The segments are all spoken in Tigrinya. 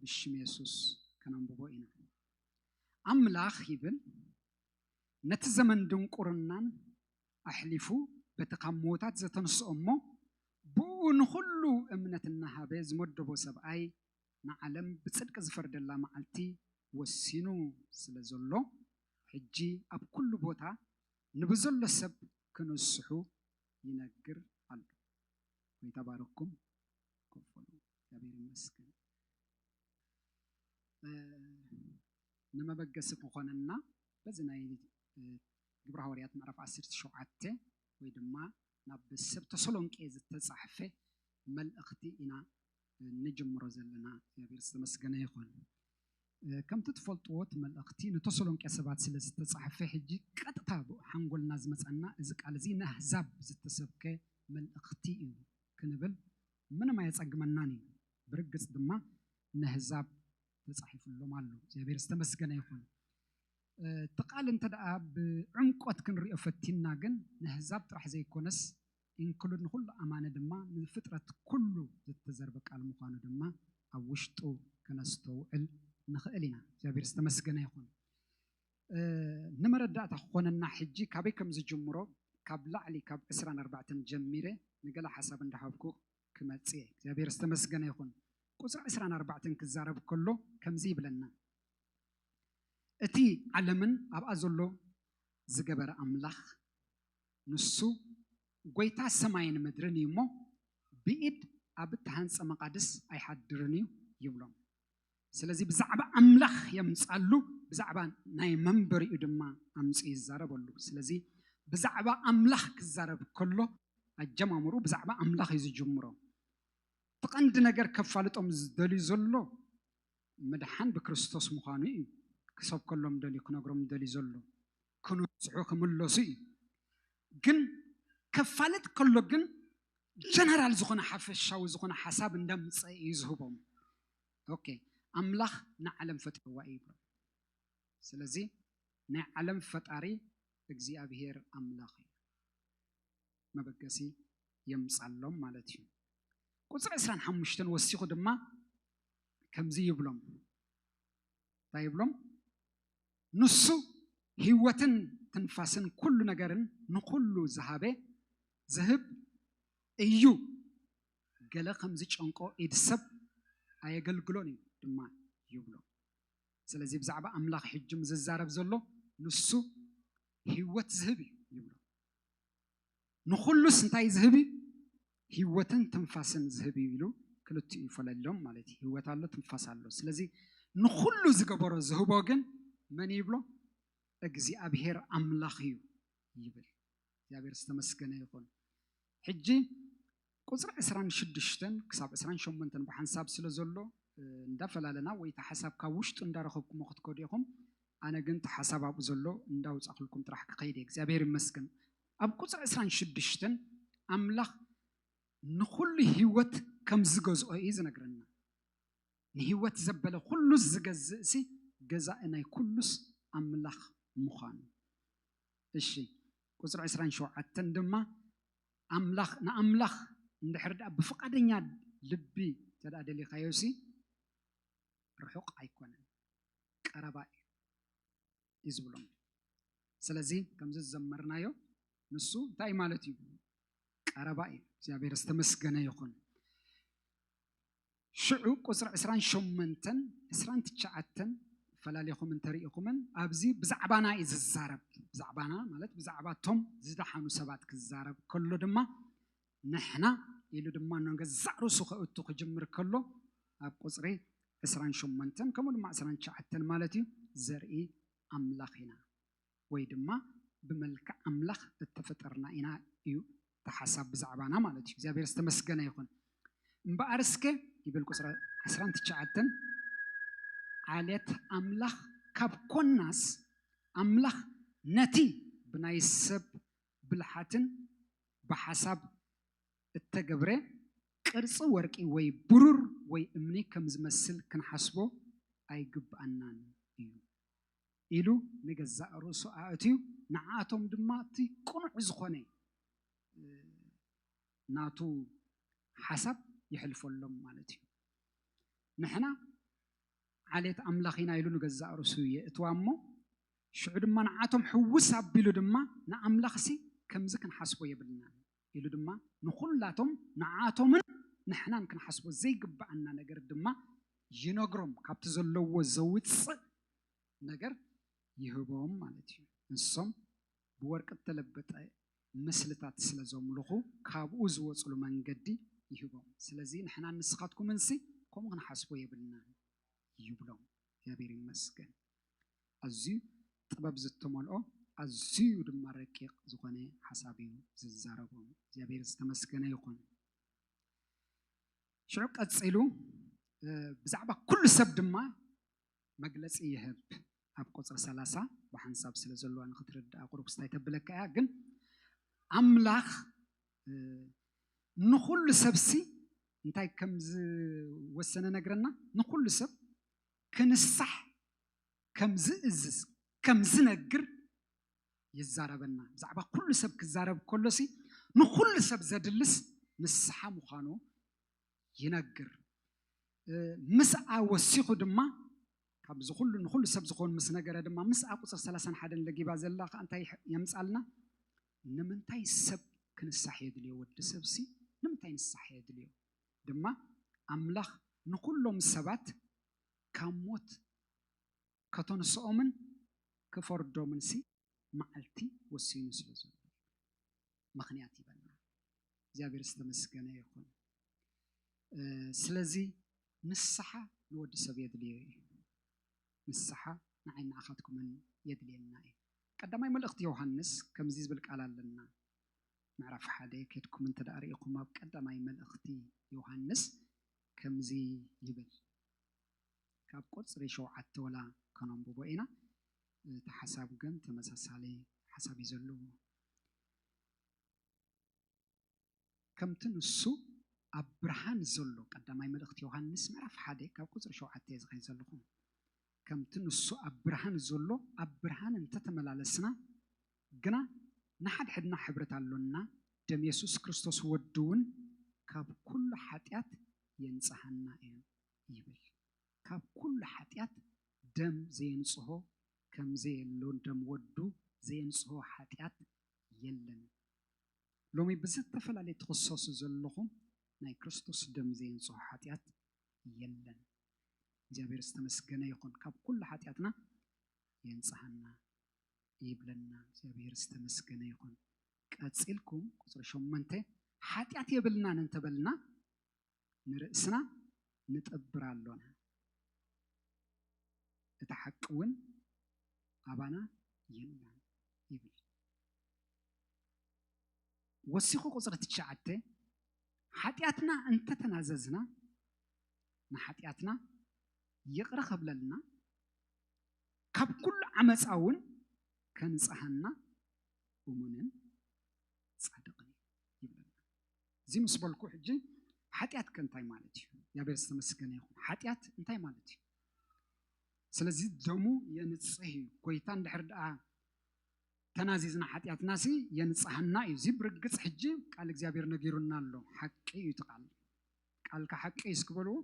ብሽም የሱስ ከነንብቦ ኢና። ኣምላኽ ይብል ነቲ ዘመን ድንቁርናን ኣሕሊፉ በቲ ካብ ምዉታት ዘተንስኦ እሞ ብእኡ ንዅሉ እምነት እናሃበ ዝመደቦ ሰብኣይ ንዓለም ብጽድቂ ዝፈርደላ መዓልቲ ወሲኑ ስለ ዘሎ ሕጂ ኣብ ኵሉ ቦታ ንብዘሎ ሰብ ክንስሑ ይነግር ኣሎ። ጐይታ ባርኩም። ክፈሉ እግዚኣብሔር ይመስገን ንመበገሲ ክኾነና በዚ ናይ ግብረ ሃዋርያት ምዕራፍ 17 ወይ ድማ ናብ ሰብ ተሰሎንቄ ዝተጻሕፈ መልእኽቲ ኢና ንጅምሮ ዘለና እግዚኣብሔር ዝተመስገነ ይኹን ከምቲ ትፈልጥዎ እቲ መልእኽቲ ንተሰሎንቄ ሰባት ስለ ዝተጻሕፈ ሕጂ ቀጥታ ኣብ ሓንጎልና ዝመጸና እዚ ቃል እዚ ንኣህዛብ ዝተሰብከ መልእኽቲ እዩ ክንብል ምንም ኣየጸግመናን እዩ ብርግጽ ድማ ነህዛብ ተጻሒፍሎም ኣሎ እግዚኣብሔር ዝተመስገነ ይኹን እቲ ቃል እንተ ደኣ ብዕምቆት ክንሪኦ ፈቲንና ግን ነህዛብ ጥራሕ ዘይኮነስ ኢንክሉድ ንኹሉ ኣማኒ ድማ ንፍጥረት ኩሉ ዝተዘርበ ቃል ምዃኑ ድማ ኣብ ውሽጡ ከነስተውዕል ንኽእል ኢና። እግዚኣብሔር ዝተመስገነ ይኹን። ንመረዳእታ ክኾነና ሕጂ ካበይ ከም ዝጅምሮ ካብ ላዕሊ ካብ ዕስራን ኣርባዕተን ጀሚረ ንገለ ሓሳብ እንዳሃብኩ ክመጽእ እየ። እግዚኣብሔር ዝተመስገነ ይኹን። ቁጽሪ ዕስራን ኣርባዕተን ክዛረብ ከሎ ከምዚ ይብለና እቲ ዓለምን ኣብኣ ዘሎ ዝገበረ ኣምላኽ ንሱ ጐይታ ሰማይን ምድርን እዩ እሞ፣ ብኢድ ኣብ እተሃንጸ መቓድስ ኣይሓድርን እዩ ይብሎም። ስለዚ ብዛዕባ ኣምላኽ የምጻሉ፣ ብዛዕባ ናይ መንበሪኡ ድማ ኣምጺኡ ይዛረበሉ። ስለዚ ብዛዕባ ኣምላኽ ክዛረብ ከሎ ኣጀማምርኡ ብዛዕባ ኣምላኽ እዩ ዝጅምሮ። እቲ ቀንዲ ነገር ከፋልጦም ዝደልዩ ዘሎ ምድሓን ብክርስቶስ ምዃኑ እዩ ክሰብከሎም ደልዩ ክነግሮም ደልዩ ዘሎ። ክንስሑ ክምለሱ እዩ ግን ከፋልጥ ከሎ ግን ጀነራል ዝኾነ ሓፈሻዊ ዝኾነ ሓሳብ እንዳምፀ እዩ ዝህቦም ኦኬ ኣምላኽ ንዓለም ፈጢርዋ እዩ ይብሎም ስለዚ ናይ ዓለም ፈጣሪ እግዚኣብሄር ኣምላኽ እዩ መበገሲ የምፃሎም ማለት እዩ ቁፅሪ 25 ወሲኹ ድማ ከምዚ ይብሎም እንታይ ይብሎም? ንሱ ህይወትን ትንፋስን ኩሉ ነገርን ንኹሉ ዝሃበ ዝህብ እዩ። ገለ ከም ዝጨንቆ ኢድ ሰብ ኣየገልግሎን እዩ ድማ ይብሎ። ስለዚ ብዛዕባ ኣምላኽ ሕጂ ዝዛረብ ዘሎ ንሱ ህይወት ዝህብ እዩ ይብሎ። ንኹሉስ እንታይ ዝህብ እዩ? ህይወትን ትንፋስን ዝህብ እዩ ኢሉ ክልቲኡ ይፈለሎም ማለት እዩ። ህይወት ኣሎ፣ ትንፋስ ኣሎ። ስለዚ ንኹሉ ዝገበሮ ዝህቦ ግን መን ይብሎ? እግዚኣብሄር ኣምላኽ እዩ ይብል። እግዚኣብሄር ዝተመስገነ ይኹን። ሕጂ ቁፅሪ ዕስራን ሽዱሽተን ክሳብ ዕስራን ሸሞንተን ብሓንሳብ ስለ ዘሎ እንዳፈላለና ወይ እቲ ሓሳብ ካብ ውሽጡ እንዳረኸብኩሞ ክትከዱ ኢኹም ኣነ ግን እቲ ሓሳብ ኣብኡ ዘሎ እንዳውፃእኹልኩም ጥራሕ ክኸይድ እየ እግዚኣብሔር ይመስገን ኣብ ቁፅሪ ዕስራን ሽዱሽተን ኣምላኽ ንኹሉ ህይወት ከም ዝገዝኦ እዩ ዝነግረና ንህይወት ዘበለ ኩሉ ዝገዝእ ሲ ገዛኢ ናይ ኩሉስ ኣምላኽ ምዃኑ እሺ ቁፅሪ ዕስራን ሸውዓተን ድማ ኣምላኽ ንኣምላኽ እንድሕር ድኣ ብፍቓደኛ ልቢ እንተድኣ ደሊኻዮሲ ርሑቕ ኣይኮነን ቀረባ እዩ እዩ ዝብሎም። ስለዚ ከምዚ ዝዘመርናዮ ንሱ እንታይ ማለት እዩ ቀረባ እዩ። እግዚኣብሔር ዝተመስገነ ይኹን። ሽዑ ቁጽሪ ዕስራን ሸሞንተን ዕስራን ትሽዓተን ፈላሊኹም እንተርኢኹምን ኣብዚ ብዛዕባና እዩ ዝዛረብ ብዛዕባና ማለት ብዛዕባ እቶም ዝደሓኑ ሰባት ክዛረብ ከሎ ድማ ንሕና ኢሉ ድማ ንገዛእ ርእሱ ከእቱ ክጅምር ከሎ ኣብ ቁፅሪ 28 ከምኡ ድማ 29 ማለት እዩ ዘርኢ ኣምላኽ ኢና ወይ ድማ ብመልክዕ ኣምላኽ እተፈጠርና ኢና እዩ እቲ ሓሳብ ብዛዕባና ማለት እዩ። እግዚኣብሔር ዝተመስገነ ይኹን። እምበኣር እስከ ይብል ቁጽሪ ዓስራን ትሽዓተን ዓሌት ኣምላኽ ካብ ኮናስ ኣምላኽ ነቲ ብናይ ሰብ ብልሓትን ብሓሳብ እተገብረ ቅርጺ ወርቂ ወይ ብሩር ወይ እምኒ ከም ዝመስል ክንሓስቦ ኣይግብኣናን እዩ። ኢሉ ንገዛእ ርእሱ ኣእትዩ ንዓኣቶም ድማ እቲ ቅኑዕ ዝኾነ ናቱ ሓሳብ የሕልፈሎም ማለት እዩ። ንሕና ዓሌት ኣምላኽ ኢና ኢሉ ንገዛእ ርእሱ የእትዋ እሞ ሽዑ ድማ ንዓኣቶም ሕውስ ኣቢሉ ድማ ንኣምላኽሲ ከምዚ ክንሓስቦ የብልናን ኢሉ ድማ ንኹላቶም ንዓኣቶምን ንሕናን ክንሓስቦ ዘይግብኣና ነገር ድማ ይነግሮም ካብቲ ዘለዎ ዘውጽእ ነገር ይህቦም ማለት እዩ ንሶም ብወርቂ እተለበጠ ምስልታት ስለ ዘምልኹ ካብኡ ዝወጽሉ መንገዲ ይህቦም ስለዚ ንሕናን ንስኻትኩምንሲ ከምኡ ክንሓስቦ የብልናን ይብሎም እግዚኣብሔር ይመስገን ኣዝዩ ጥበብ ዝተመልኦ ኣዝዩ ድማ ረቂቅ ዝኮነ ሓሳብ እዩ ዝዛረቦ እግዚኣብሔር ዝተመስገነ ይኩን ሽዑ ቀጺሉ ብዛዕባ ኩሉ ሰብ ድማ መግለጺ ይህብ ኣብ ቁጽሪ ሰላሳ ብሓንሳብ ስለ ዘለዋ ንክትርድኣ ቁሩብ ስታይ ተብለካ እያ ግን ኣምላኽ ንኩሉ ሰብሲ እንታይ ከም ዝወሰነ ነግረና ንኩሉ ሰብ ክንሳሕ ከም ዝእዝዝ ከም ዝነግር ይዛረበና ብዛዕባ ኩሉ ሰብ ክዛረብ ከሎ ሲ ንኩሉ ሰብ ዘድልስ ንስሓ ምዃኑ ይነግር ምስኣ ወሲኹ ድማ ካብዚ ኩሉ ንኩሉ ሰብ ዝኾኑ ምስ ነገረ ድማ ምስኣ ቁፅር 31 ለጊባ ዘላ ከዓ እንታይ የምፃልና ንምንታይ ሰብ ክንሳሕ የድልዮ ወዲ ሰብሲ ንምንታይ ንሳሕ የድልዮ ድማ ኣምላኽ ንዅሎም ሰባት ካብ ሞት ከተንስኦምን ክፈርዶምንሲ መዓልቲ ወሲኑ ስለ ዘሎ እዩ ምኽንያት ይበና እግዚኣብሔር ዝተመስገነ ይኹን ስለዚ ንስሓ ንወዲ ሰብ የድልዮ እዩ ንስሓ ንዓይን ንዓኻትኩምን የድልየና እዩ ቀዳማይ መልእኽቲ ዮሃንስ ከምዚ ዝብል ቃል ኣለና ምዕራፍ ሓደ ኬድኩም እንተ ደኣ ርኢኹም ኣብ ቀዳማይ መልእኽቲ ዮሃንስ ከምዚ ይብል ካብ ቁጽሪ ሸውዓተ ወላ ከነንብቦ ኢና እቲ ሓሳብ ግን ተመሳሳሊ ሓሳብ እዩ ዘለዎ ከምቲ ንሱ ኣብ ብርሃን ዘሎ ቀዳማይ መልእኽቲ ዮሃንስ ምዕራፍ ሓደ ካብ ቁጽሪ ሸውዓተ እየ ዝኸይ ዘለኹ ከምቲ ንሱ ኣብ ብርሃን ዘሎ ኣብ ብርሃን እንተተመላለስና ግና ንሓድሕድና ሕብረት ኣሎና፣ ደም የሱስ ክርስቶስ ወዱውን ካብ ኩሉ ሓጢኣት የንጽሃና እዩ ይብል። ካብ ኩሉ ሓጢኣት ደም ዘየንጽሆ ከምዘየሎ ደም ወዱ ዘየንጽሆ ሓጢኣት የለን። ሎሚ ብዝተፈላለየ ትኽሰሱ ዘለኹም ናይ ክርስቶስ ደም ዘየንጽሆ ሓጢኣት የለን። እግዚኣብሔር ዝተመስገነ ይኹን ካብ ኩሉ ሓጢኣትና የንጽሃና ይብለና እግዚኣብሔር ዝተመስገነ ይኹን። ቀጺልኩም ቁጽሪ ሸሞንተ ሓጢኣት የብልናን እንተበልና ንርእስና ንጠብር ኣሎና እቲ ሓቂ እውን ኣባና የላን ይብል። ወሲኹ ቁጽሪ ትሽዓተ ሓጢኣትና እንተተናዘዝና ንሓጢኣትና ይቕረ ከብለልና ካብ ኩሉ ዓመፃ እውን ከንፅሃና እሙንን ፃድቕን ይብለና እዚ ምስ በልኩ ሕጂ ሓጢኣት ከ እንታይ ማለት እዩ እግዚኣብሔር ዝተመስገነ ይኹን ሓጢኣት እንታይ ማለት እዩ ስለዚ ደሙ የንፅህ እዩ ጎይታ እንድሕር ድኣ ተናዚዝና ሓጢኣትና ሲ የንፅሃና እዩ እዚ ብርግፅ ሕጂ ቃል እግዚኣብሔር ነጊሩና ኣሎ ሓቂ እዩ እቲ ቃል ቃልካ ሓቂ እዩ እስክበልዎ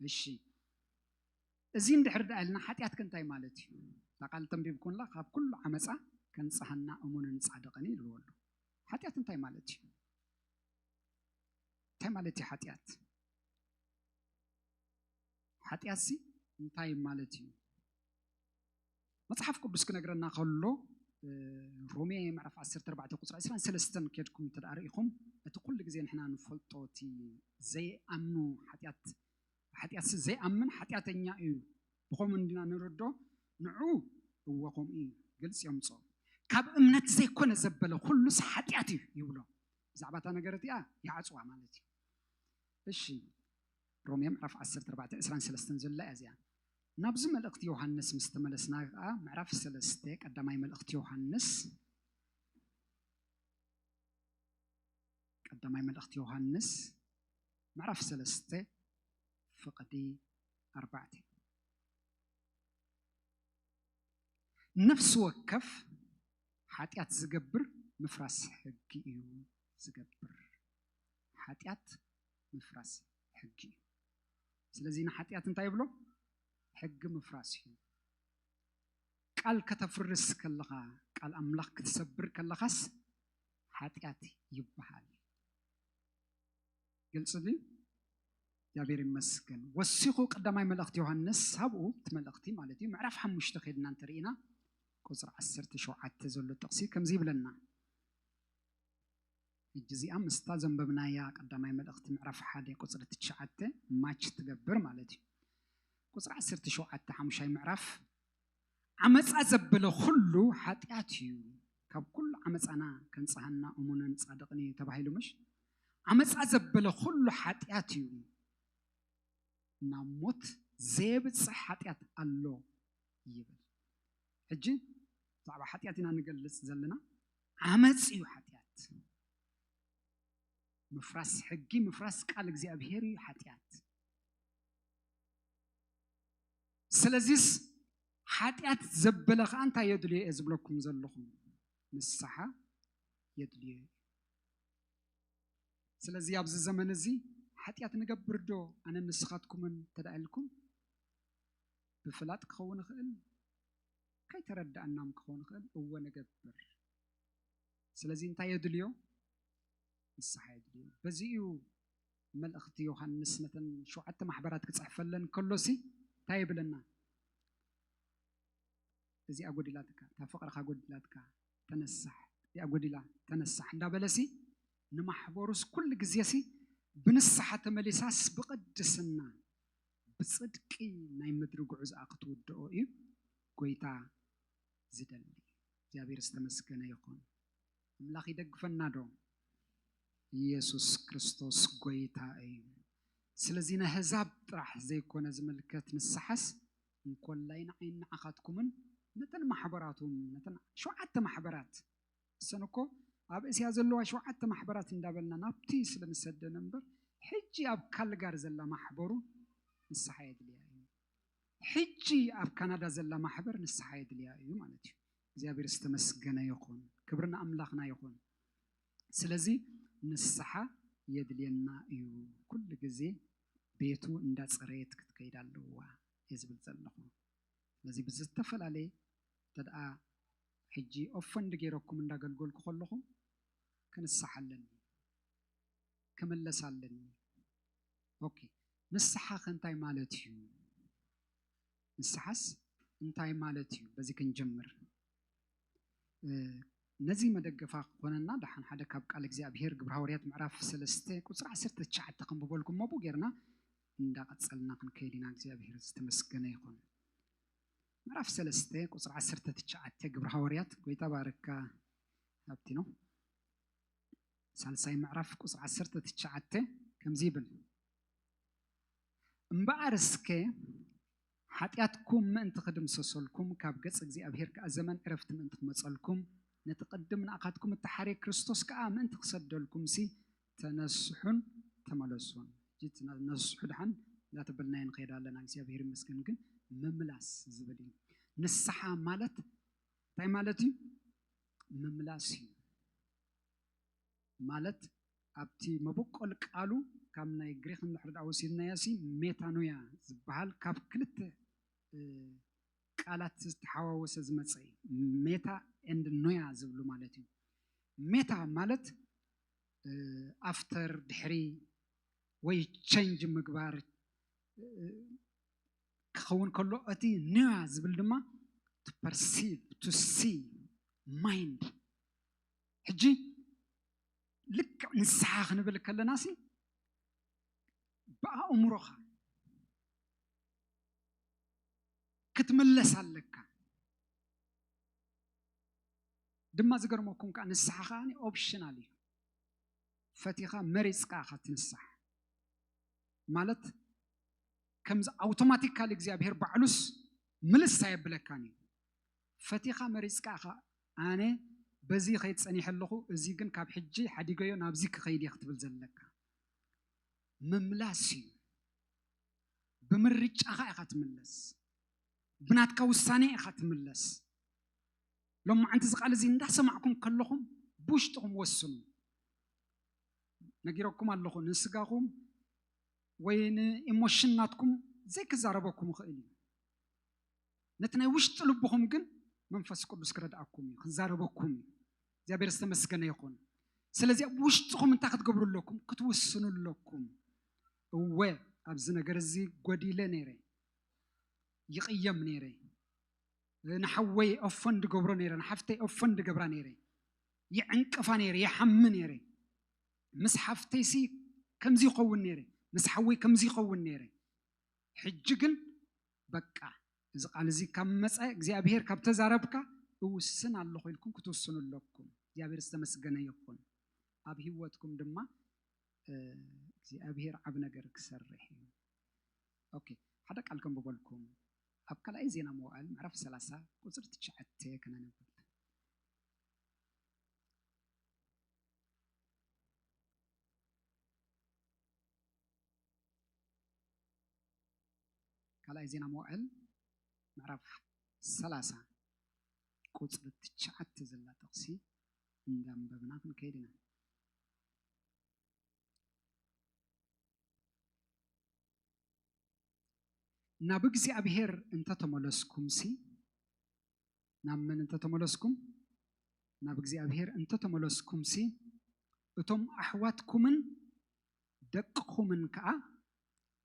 እሺ እዚ እንድሕር ደኣ ኢልና ሓጢኣት ከ እንታይ ማለት እዩ? እታ ቃል እተንቢብኩምላ ካብ ኩሉ ዓመጻ ከንጽሃና እሙንን ጻድቕን እዩ ኢልዎ ኣሎ። ሓጢኣት እንታይ ማለት እዩ? እንታይ ማለት እዩ ሓጢኣት? ሓጢኣትሲ እንታይ ማለት እዩ? መጽሓፍ ቅዱስ ክነግረና ከሎ እ፣ ሮሜ ምዕራፍ 14 ቁጽሪ 23 ኬድኩም እንተ ደኣ ርኢኹም እቲ ኩሉ ግዜ ንሕና ንፈልጦ እቲ ዘይኣምኑ ሓጢኣት ብሓጢኣትሲ ዘይኣምን ሓጢኣተኛ እዩ፣ ብኸምኡ እንዲና ንርዶ፣ ንዑ እወ ከምኡ እዩ፣ ግልጺ የምጽኦ። ካብ እምነት ዘይኮነ ዘበለ ኩሉስ ሓጢኣት እዩ ይብሎ። ብዛዕባ እታ ነገር እቲኣ ይዓጽዋ ማለት እዩ። እሺ ሮሜ ምዕራፍ 10 ተርባዕተ ዕስራን ሰለስተን ዘላ እያ እዚኣ። ናብዚ መልእኽቲ ዮሃንስ ምስ ተመለስና ከኣ ምዕራፍ ሰለስተ ቀዳማይ መልእኽቲ ዮሃንስ ቀዳማይ መልእኽቲ ዮሃንስ ምዕራፍ ሰለስተ ፍቕዲ ኣርባዕተ ነፍሲ ወከፍ ሓጢኣት ዝገብር ምፍራስ ሕጊ እዩ ዝገብር ሓጢኣት ምፍራስ ሕጊ እዩ ስለዚ ንሓጢኣት እንታይ ይብሎ ሕጊ ምፍራስ እዩ ቃል ከተፍርስ ከለኻ ቃል ኣምላኽ ክትሰብር ከለኻስ ሓጢኣት ይበሃል ግልፂ ድዩ እግዚኣብሔር ይመስገን ወሲኹ ቀዳማይ መልእኽቲ ዮሃንስ ሳብኡ እቲ መልእኽቲ ማለት እዩ ምዕራፍ ሓሙሽተ ከድና እንተርኢና ቁፅሪ ዓሰርተ ሸውዓተ ዘሎ ጥቕሲ ከምዚ ይብለና ሕጂ እዚኣ ምስታ ዘንበብናያ ቀዳማይ መልእኽቲ ምዕራፍ ሓደ ቁፅሪ ትሽዓተ ማች ትገብር ማለት እዩ ቁፅሪ ዓሰርተ ሸውዓተ ሓሙሻይ ምዕራፍ ዓመጻ ዘበለ ኹሉ ሓጢኣት እዩ ካብ ኩሉ ዓመጻና ከንጽሃና እሙንን ጻድቕን እዩ ተባሂሉ ምሽ ዓመጻ ዘበለ ኹሉ ሓጢኣት እዩ ናብ ሞት ዘየብፅሕ ሓጢኣት ኣሎ ይብል ሕጂ ብዛዕባ ሓጢኣት ኢና ንገልፅ ዘለና ዓመፅ እዩ ሓጢኣት ምፍራስ ሕጊ ምፍራስ ቃል እግዚኣብሄር እዩ ሓጢኣት ስለዚስ ሓጢኣት ዘበለ ከዓ እንታይ የድልዮ እየ ዝብለኩም ዘለኹ ንስሓ የድልዮ እዩ ስለዚ ኣብዚ ዘመን እዚ ሓጢኣት ንገብር ዶ ኣነ ንስኻትኩምን ተዳኢልኩም ብፍላጥ ክኸውን ይኽእል ከይተረዳእናም ክኸውን ይኽእል እወ ንገብር ስለዚ እንታይ የድልዮ ንስሓ የድልዮ በዚ እዩ መልእኽቲ ዮሃንስ ነተን ሸውዓተ ማሕበራት ክጽሕፈለን ከሎሲ እንታይ ይብለና? እዚኣ ጎዲላትካ፣ እታ ፍቕርኻ ጎዲላትካ፣ ተነሳሕ፣ እዚኣ ጎዲላ፣ ተነሳሕ እንዳበለሲ ንማሕበሩስ ኩሉ ግዜሲ ብንስሓ ተመሊሳስ ብቕድስና ብጽድቂ ናይ ምድሪ ጉዕዝኣ ክትውድኦ እዩ ጎይታ ዝደሊ። እግዚኣብሔር ዝተመስገነ ይኹን። ኣምላኽ ይደግፈና ዶ ኢየሱስ ክርስቶስ ጎይታ እዩ ስለዚ ነህዛብ ጥራሕ ዘይኮነ ዝምልከት ንስሓስ እንኮላይ ንዓይን ንዓኻትኩምን ነተን ማሕበራት እውን ነተን ሸውዓተ ማሕበራት እሰን እኮ ኣብ እስያ ዘለዋ ሸውዓተ ማሕበራት እንዳበልና ናብቲ ስለ ንሰደን እምበር ሕጂ ኣብ ካልጋር ዘላ ማሕበሩ ንስሓ የድልያ እዩ ሕጂ ኣብ ካናዳ ዘላ ማሕበር ንስሓ የድልያ እዩ ማለት እዩ እግዚኣብሔር ዝተመስገነ ይኹን ክብሪ ንኣምላኽና ይኹን ስለዚ ንስሓ የድልየና እዩ ኩሉ ግዜ ቤቱ እንዳጸረየት ክትከይድ ኣለዋ እየ ዝብል ዘለኹ ስለዚ ብዝተፈላለየ ተድኣ ሕጂ ኦፈንድ ገይረኩም እንዳገልገልኩ ከለኹ ክንስሓ ኣለኒ ክምለስ ኣለኒ ኦኬ ንስሓ ከ እንታይ ማለት እዩ ንስሓስ እንታይ ማለት እዩ በዚ ክንጅምር ነዚ መደገፋ ክኾነና ደሓን ሓደ ካብ ቃል እግዚኣብሄር ግብረ ሃዋርያት ምዕራፍ ሰለስተ ቁፅሪ ዓሰርተ ትሽዓተ ከንብበልኩም ኣቡ ጌርና እንዳቐፀልና ክንከይድ ኢና እግዚኣብሄር ዝተመስገነ ይኹን ምዕራፍ ሰለስተ ቁፅሪ ዓሰርተ ትሽዓተ ግብረ ሃዋርያት ጎይታ ባርካ ሃብቲ ነው ሳልሳይ ምዕራፍ ቁፅሪ ዓሰርተ ትሽዓተ ከምዚ ይብል እምበኣር እስከ ሓጢኣትኩም ምእንቲ ክድምሰሰልኩም ካብ ገጽ እግዚኣብሄር ከኣ ዘመን ዕረፍቲ ምእንቲ ክመጸልኩም ነቲ ቅድም ንኣኻትኩም እተሓርየ ክርስቶስ ከኣ ምእንቲ ክሰደልኩምሲ ተነስሑን ተመለሱን ነስሑ ድሓን እናተበልናዮ ንኸይድ ኣለና እግዚኣብሄር ይመስገን ግን ምምላስ ዝብል እዩ ንስሓ ማለት እንታይ ማለት እዩ ምምላስ እዩ ማለት ኣብቲ መበቆል ቃሉ ካብ ናይ ግሪኽ እንድሕሪ ድኣ ወሲድናዮሲ ሜታኖያ ዝብሃል ካብ ክልተ ቃላት ዝተሓዋወሰ ዝመጸ እዩ። ሜታ ኤንድ ኖያ ዝብሉ ማለት እዩ። ሜታ ማለት ኣፍተር ድሕሪ ወይ ቸንጅ ምግባር ክኸውን ከሎ እቲ ኖያ ዝብል ድማ ቱ ፐርሲቭ ቱ ሲ ማይንድ ሕጂ ልክዕ ንስሓ ክንብል ከለና ሲ ብኣእምሮኻ ክትምለስ ኣለካ ድማ ዝገርመኩም ከዓ ንስሓ ከዓ ኦፕሽናል እዩ ፈቲኻ መሪፅካ ኢኻ ትንሳሕ ማለት ከምዚ ኣውቶማቲካሊ እግዚኣብሄር ባዕሉስ ምልስ ኣየብለካን እዩ ፈቲኻ መሪጽካ ኢኻ ኣነ በዚ ይኸይድ ጸኒሐ ኣለኹ እዚ ግን ካብ ሕጂ ሓዲገዮ ናብዚ ክኸይድ እየ ክትብል ዘለካ ምምላስ እዩ ብምርጫኻ ኢኻ ትምለስ ብናትካ ውሳኔ ኢኻ ትምለስ ሎማዓንቲ እዚ ቃል እዚ እንዳሰማዕኩም ከለኹም ብውሽጥኹም ወስኑ ነጊረኩም ኣለኹ ንስጋኹም ወይ ንኢሞሽን ናትኩም ዘይክዛረበኩም ይኽእል እዩ ነቲ ናይ ውሽጢ ልብኹም ግን መንፈስ ቅዱስ ክረድኣኩም እዩ ክዛረበኩም እዩ እግዚኣብሔር ዝተመስገነ ይኹን ስለዚ ኣብ ውሽጥኹም እንታይ ክትገብሩ ኣለኩም ክትውስኑ ኣለኩም እወ ኣብዚ ነገር እዚ ጎዲለ ነይረ ይቕየም ነይረ ንሓወይ ኦፎን ድገብሮ ነይረ ንሓፍተይ ኦፎን ድገብራ ነይረ ይዕንቅፋ ነይረ ይሓሚ ነይረ ምስ ሓፍተይሲ ከምዚ ይኸውን ነይረ ምስ ሓወይ ከምዚ ይኸውን ነይረ ሕጂ ግን በቃ እዚ ቃል እዚ ካብ መፀ እግዚኣብሔር ካብ ተዛረብካ እውስን ኣለኹ ኢልኩም ክትውስኑ ኣለኩም። እግዚኣብሔር ዝተመስገነ ይኹን። ኣብ ህይወትኩም ድማ እግዚኣብሔር ዓብ ነገር ክሰርሕ እዩ። ኦኬ ሓደ ቃል ከንብበልኩም ኣብ ካልኣይ ዜና መዋዕል ምዕራፍ 30 ቁፅሪ ትሽዓተ ከነንብብ ካልኣይ ዜና መዋዕል ምዕራፍ ሰላሳ ቁጽሪ ትሽዓተ ዘላ ጥቕሲ እንዳንበብና ክንከይድ ኢና። ናብ እግዚኣብሔር እንተተመለስኩምሲ ናብ መን እንተተመለስኩም ናብ እግዚኣብሔር እንተተመለስኩምሲ እቶም ኣሕዋትኩምን ደቅኹምን ከኣ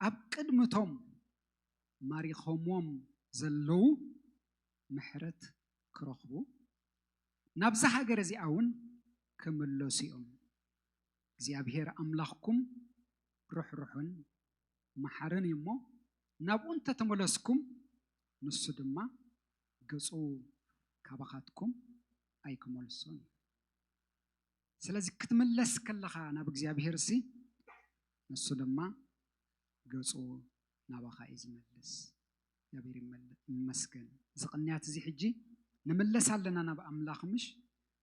ኣብ ቅድሚ እቶም ማሪኾምዎም ዘለዉ ምሕረት ኪረኽቡ፣ ናብዛ ሃገር እዚኣውን ኪምለሱ እዮም። እግዚኣብሄር ኣምላኽኩም ርሕሩሕን መሓርን እዩ እሞ፣ ናብኡ እንተ ተመለስኩም፣ ንሱ ድማ ገጹ ኻባኻትኩም ኣይኪመልሶን እዩ። ስለዚ ክትምለስ ከለኻ ናብ እግዚኣብሄርሲ ንሱ ድማ ገጹ ናባኻ እዩ ዝመልስ። እግዚኣብሄር ይመስገን እዚ ቅንያት እዚ ሕጂ ንምለስ ኣለና ናብ ኣምላኽ ምሽ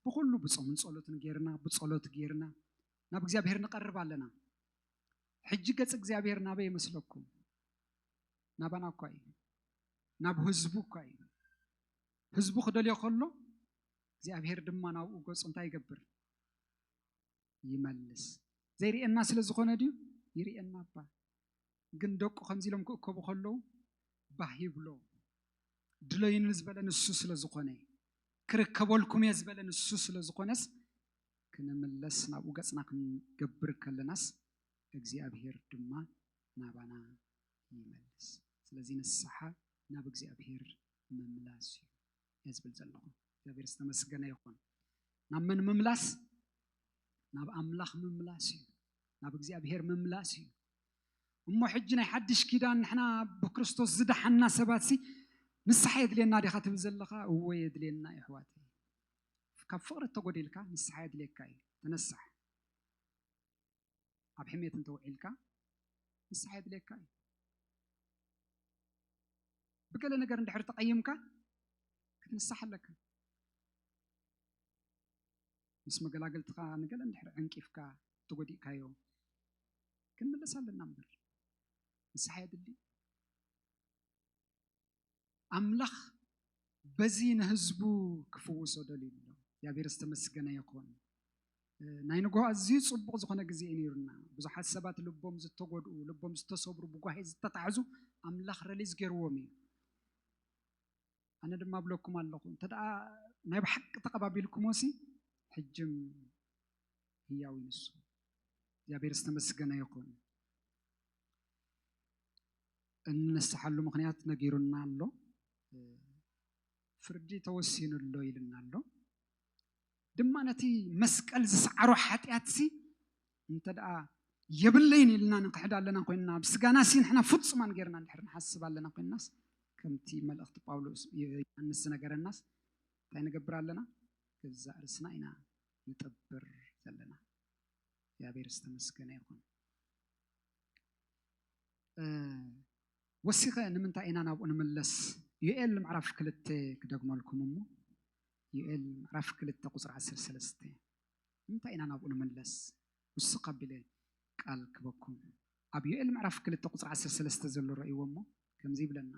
ብኹሉ ብጾምን ጸሎትን ጌርና ብጸሎት ጌርና ናብ እግዚኣብሄር ንቐርብ ኣለና። ሕጂ ገጽ እግዚኣብሄር ናበይ ይመስለኩም? ናባና እኳ እዩ ናብ ህዝቡ እኳ እዩ። ህዝቡ ክደልዮ ከሎ እግዚኣብሔር ድማ ናብኡ ገጹ እንታይ ይገብር ይመልስ ዘይርእየና ስለ ዝኾነ ድዩ ይርእየና እባ ግን ደቁ ከምዚ ኢሎም ክእከቡ ከለዉ ባህ ይብሎ ድለዩኒ ዝበለ ንሱ ስለ ዝኾነ ክርከበልኩም እየ ዝበለ ንሱ ስለ ዝኾነስ ክንምለስ ናብኡ ገፅና ክንገብር ከለናስ እግዚኣብሄር ድማ ናባና ይመልስ ስለዚ ንስሓ ናብ እግዚኣብሄር ምምላስ እዩ እየ ዝብል ዘለኹ እግዚኣብሔር ዝተመስገነ ይኹን ናብ መን ምምላስ ናብ ኣምላኽ ምምላስ እዩ ናብ እግዚኣብሔር ምምላስ እዩ እሞ ሕጂ ናይ ሓድሽ ኪዳን ንሕና ብክርስቶስ ዝደሓና ሰባት ሲ ንስሓ የድልየና ዲኻ ትብል ዘለኻ እወ የድልየና ይሕዋት ካብ ፍቕሪ እተጎዲልካ ንስሓ የድልየካ እዩ ተነሳሕ ኣብ ሕሜት እንተውዒልካ ንስሓ የድልየካ እዩ ብገለ ነገር እንድሕር ተቐይምካ ክትንሳሕ ኣለካ ምስ መገላገልትኻ ንገለ እንድሕር ዕንቂፍካ ተጎዲእካዮ ክንምለስ ኣለና እምበር ንስሓ የድሊ ኣምላኽ በዚ ንህዝቡ ክፍውሶ ደልዩ ኣሎ። እግዚኣብሔር ዝተመስገነ ይኹን። ናይ ንግሆ ኣዝዩ ጽቡቕ ዝኾነ ግዜ እዩ ነይሩና። ብዙሓት ሰባት ልቦም ዝተጎድኡ፣ ልቦም ዝተሰብሩ፣ ብጓሂ ዝተታሕዙ ኣምላኽ ረሊዝ ገይርዎም እዩ። ኣነ ድማ እብለኩም ኣለኹ እንተ ናይ ብሓቂ ተቐባቢልኩሞሲ ሕጅም ህያው ይንሱ እግዚኣብሔር ዝተመስገነ ይኹን። እንንስሓሉ ምኽንያት ነጊሩና ኣሎ። ፍርዲ ተወሲኑ ኣሎ ኢሉና ኣሎ። ድማ ነቲ መስቀል ዝሰዓሮ ሓጢኣትሲ እንተ ደኣ የብለይን ኢልና ንክሕድ ኣለና ኮይንና ኣብ ስጋናሲ ንሕና ፍጹማን ጌርና እንድሕር ንሓስብ ኣለና ኮይንናስ ከምቲ መልእኽቲ ጳውሎስ ዮሃንስ ዝነገረናስ እንታይ ንገብር ኣለና ገዛእ ርስና ኢና ንጠብር ዘለና እግዚኣብሔር ዝተመስገነ ይኹን ወሲኸ ንምንታይ ኢና ናብኡ ንምለስ? ዩኤል ምዕራፍ ክልተ ክደግመልኩም እሞ ዩኤል ምዕራፍ ክልተ ቁፅሪ ዓሰርተ ሰለስተ ንምንታይ ኢና ናብኡ ንምለስ? ውስኽ ኣቢለ ቃል ክበኩም ኣብ ዩኤል ምዕራፍ ክልተ ቁፅሪ ዓሰርተ ሰለስተ ዘሎ ረእይዎ እሞ ከምዚ ይብለና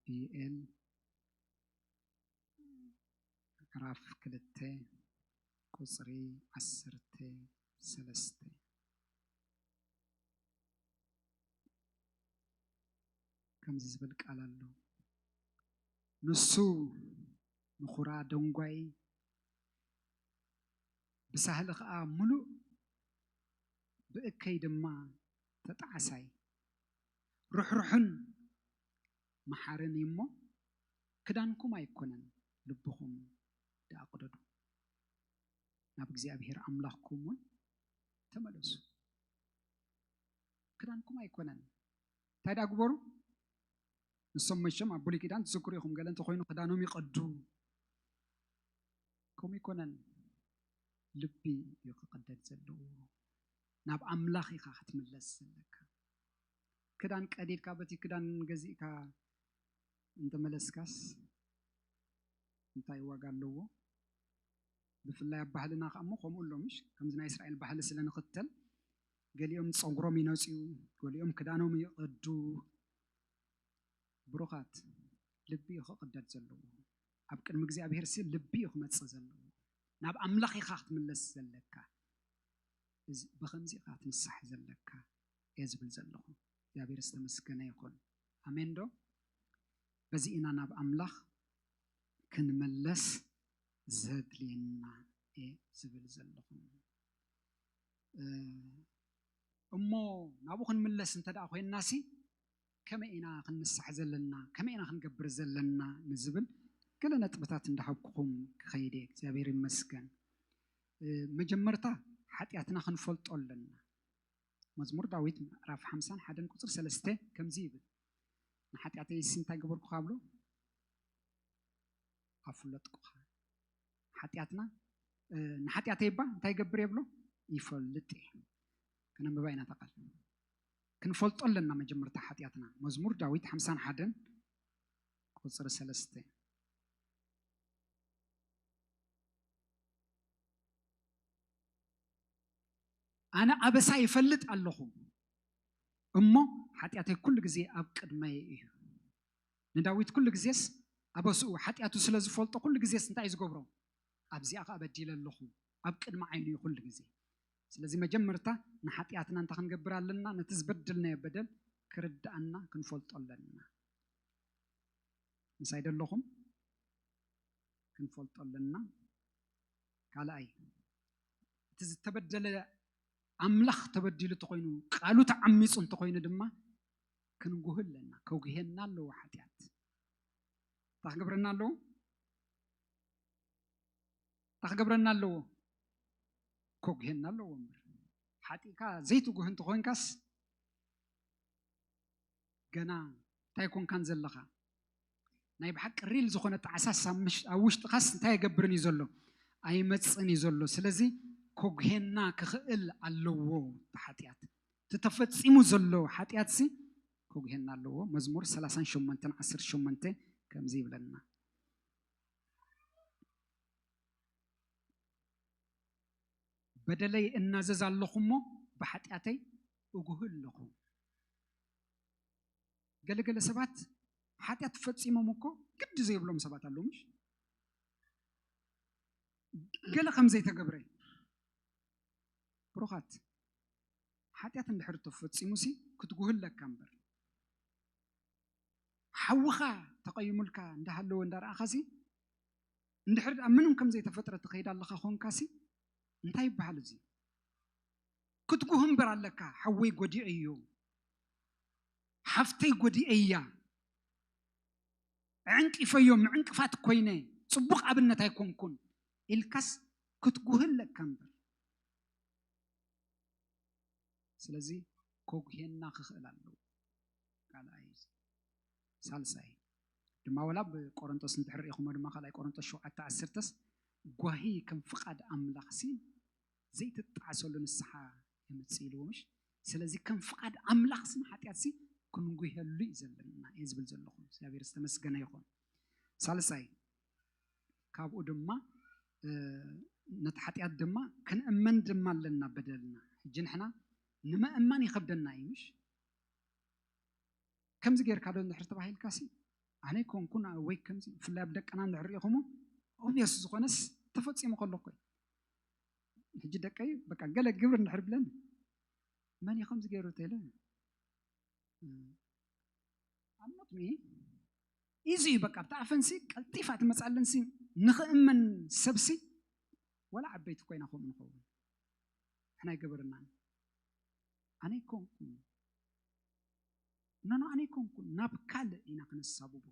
ቢኤል ምዕራፍ ክልተ ቁፅሪ ዓሰርተ ሰለስተ ከምዚ ዝብል ቃል ኣሎ ንሱ ንኹራ ደንጓይ ብሳህሊ ከዓ ሙሉእ ብእከይ ድማ ተጣዕሳይ ርሕሩሕን መሓርን እዩ እሞ፣ ክዳንኩም ኣይኰነን፣ ልብኹም ደኣ ቕደዱ፣ ናብ እግዚኣብሄር ኣምላኽኩም እውን ተመለሱ። ክዳንኩም ኣይኰነን። እንታይ ደኣ ግበሩ? ንሶም መቸም ኣብ ብሉይ ኪዳን ትዝክሩ ኢኹም፣ ገለ እንተዀይኑ ክዳኖም ይቐዱ። ከምኡ ኣይኰነን፣ ልቢ እዩ ክቕደድ ዘለዎ። ናብ ኣምላኽ ኢኻ ክትምለስ ዘለካ። ክዳን ቀዲድካ በቲ ክዳን ገዚእካ እንተመለስካስ እንታይ ዋጋ ኣለዎ? ብፍላይ ኣብ ባህልና ከኣሞ ከምኡ ኣሎ ምሽ ከምዚ ናይ እስራኤል ባህሊ ስለ ንኽተል ገሊኦም ፀጉሮም ይነፅዩ፣ ገሊኦም ክዳኖም ይቐዱ። ብሩኻት ልቢ እዩ ክቕደድ ዘለዎ። ኣብ ቅድሚ እግዚኣብሔር ሲ ልቢ እዩ ክመፅእ ዘለዎ። ናብ ኣምላኽ ኢኻ ክትምለስ ዘለካ። እዚ ብኸምዚ ኢኻ ትንሳሕ ዘለካ። እየ ዝብል ዘለኹ እግዚኣብሔር ዝተመስገነ ይኹን ኣሜን ዶ በዚ ኢና ናብ ኣምላኽ ክንመለስ ዘድልየና እየ ዝብል ዘለኹ እሞ ናብኡ ክንምለስ እንተ ደኣ ኮይንናሲ ከመይ ኢና ክንንሳሕ ዘለና ከመይ ኢና ክንገብር ዘለና ንዝብል ገለ ነጥብታት እንዳሃብኩኹም ክኸይድ እየ እግዚኣብሔር ይመስገን መጀመርታ ሓጢኣትና ክንፈልጦ ኣለና መዝሙር ዳዊት ምዕራፍ ሓምሳን ሓደን ቁፅሪ ሰለስተ ከምዚ ይብል ንሓጢኣተይስ እንታይ ገበርኩኻ ብሎ ኣፍለጥኩኻ ሓጢኣትና ንሓጢኣተይ እባ እንታይ ይገብር እየ ብሎ ይፈልጥ እየ ከነንብባ ኢና ተቃል ክንፈልጦ ኣለና መጀመርታ ሓጢኣትና መዝሙር ዳዊት ሓምሳን ሓደን ቁፅሪ ሰለስተ ኣነ ኣበሳይ እፈልጥ ኣለኹ እሞ ሓጢኣተይ ኩሉ ግዜ ኣብ ቅድመይ እዩ። ንዳዊት ኩሉ ግዜስ ኣበስኡ ሓጢኣቱ ስለ ዝፈልጦ ኩሉ ግዜስ እንታይ እዩ ዝገብሮ? ኣብዚኣ ከኣ በዲለ ኣለኹ ኣብ ቅድሚ ዓይኑ እዩ ኩሉ ግዜ። ስለዚ መጀመርታ ንሓጢኣትና እንታይ ክንገብር ኣለና? ነቲ ዝበደልናዮ በደል ክርድኣና ክንፈልጦ ኣለና። ምሳይ ደለኹም ክንፈልጦ ኣለና። ካልኣይ እቲ ዝተበደለ ኣምላኽ ተበዲሉ እንተኾይኑ ቃሉ ተዓሚፁ እንተኾይኑ ድማ ክንጉህ ኣለና ከጉሄና ኣለዎ ሓጢኣት እንታይ ክገብረና ኣለዎ እንታይ ክገብረና ኣለዎ ከጉሄና ኣለዎ እምበር ሓጢእካ ዘይትጉህ እንተኾይንካስ ገና እንታይ ኮንካን ዘለኻ ናይ ብሓቂ ሪል ዝኾነ ጣዕሳስ ኣብ ምሽ- ኣብ ውሽጥኻስ እንታይ የገብርን እዩ ዘሎ ኣይመፅን እዩ ዘሎ ስለዚ ኮጉሄና ክኽእል ኣለዎ እቲ ሓጢኣት እቲ ተፈፂሙ ዘሎ ሓጢኣት ሲ ኮጉሄና ኣለዎ መዝሙር 38 18 ከምዚ ይብለና በደለይ እናዘዝ ኣለኹ እሞ ብሓጢኣተይ እጉህ ኣለኹ ገለገለ ሰባት ሓጢኣት ፈፂሞም እኮ ግዲ ዘይብሎም ሰባት ኣለዉ ምሽ ገለ ከም ዘይተገብረ ብሩኻት ሓጢኣት እንድሕር ተፈፂሙ ሲ ክትጉህ ኣለካ እምበር ሓውኻ ተቐይሙልካ እንዳሃለወ እንዳረኣኻ ሲ እንድሕር ምንም ከም ዘይተፈጥረ ትኸይድ ኣለኻ ኮንካ ሲ እንታይ ይበሃል እዚ ክትጉህ እምበር ኣለካ ሓወይ ጎዲኤዮ ሓፍተይ ጎዲኤያ ኣዕንቂፈዮ ምዕንቅፋት ኮይነ ጽቡቕ ኣብነት ኣይኮንኩን ኢልካስ ክትጉህ ኣለካ እምበር ስለዚ ከጉሄና ክኽእል ኣለዎ ካልኣይ ሳልሳይ ድማ ወላ ብ ቆሮንጦስ እንድሕር ርኢኹሞ ድማ ካልኣይ ቆሮንጦስ ሸውዓተ ዓሰርተስ ጓሂ ከም ፍቓድ ኣምላኽሲ ዘይትጣዕሰሉ ንስሓ የምጽእልዎ ምሽ ስለዚ ከም ፍቃድ ኣምላኽ ስም ሓጢኣትሲ ክንጉሄሉ እዩ ዘለና እየ ዝብል ዘለኹ እግዚኣብሔር ዝተመስገነ ይኹን ሳልሳይ ካብኡ ድማ ነቲ ሓጢኣት ድማ ክንእመን ድማ ኣለና በደልና ሕጂ ንሕና ንምእማን ይኸብደና እዩ ምሽ ከምዚ ጌርካ ዶ ንድሕር ተባሂልካ ሲ ኣነ ኮንኩን ወይ ከምዚ ብፍላይ ኣብ ደቅና ንድሕር ኢኹሞ ኦብየስ ዝኾነስ ተፈፂሙ ከሎ ኮይ ሕጂ ደቀይ በቃ ገለ ግብር እንድሕር ብለን መን እዩ ከምዚ ገይሩ ተለ ኣምኖት ሚ ኢዚ እዩ በቃ ኣብቲ ኣፈንሲ ቀልጢፋ ትመፅኣለንሲ ንኽእመን ሰብሲ ወላ ዓበይቲ ኮይና ከምኡ ንኸውን ንሕና ይገበርና ኣነ ይኮንኩን እነኖ ኣነ ይኮንኩን ናብ ካልእ ኢና ክነሳብቦ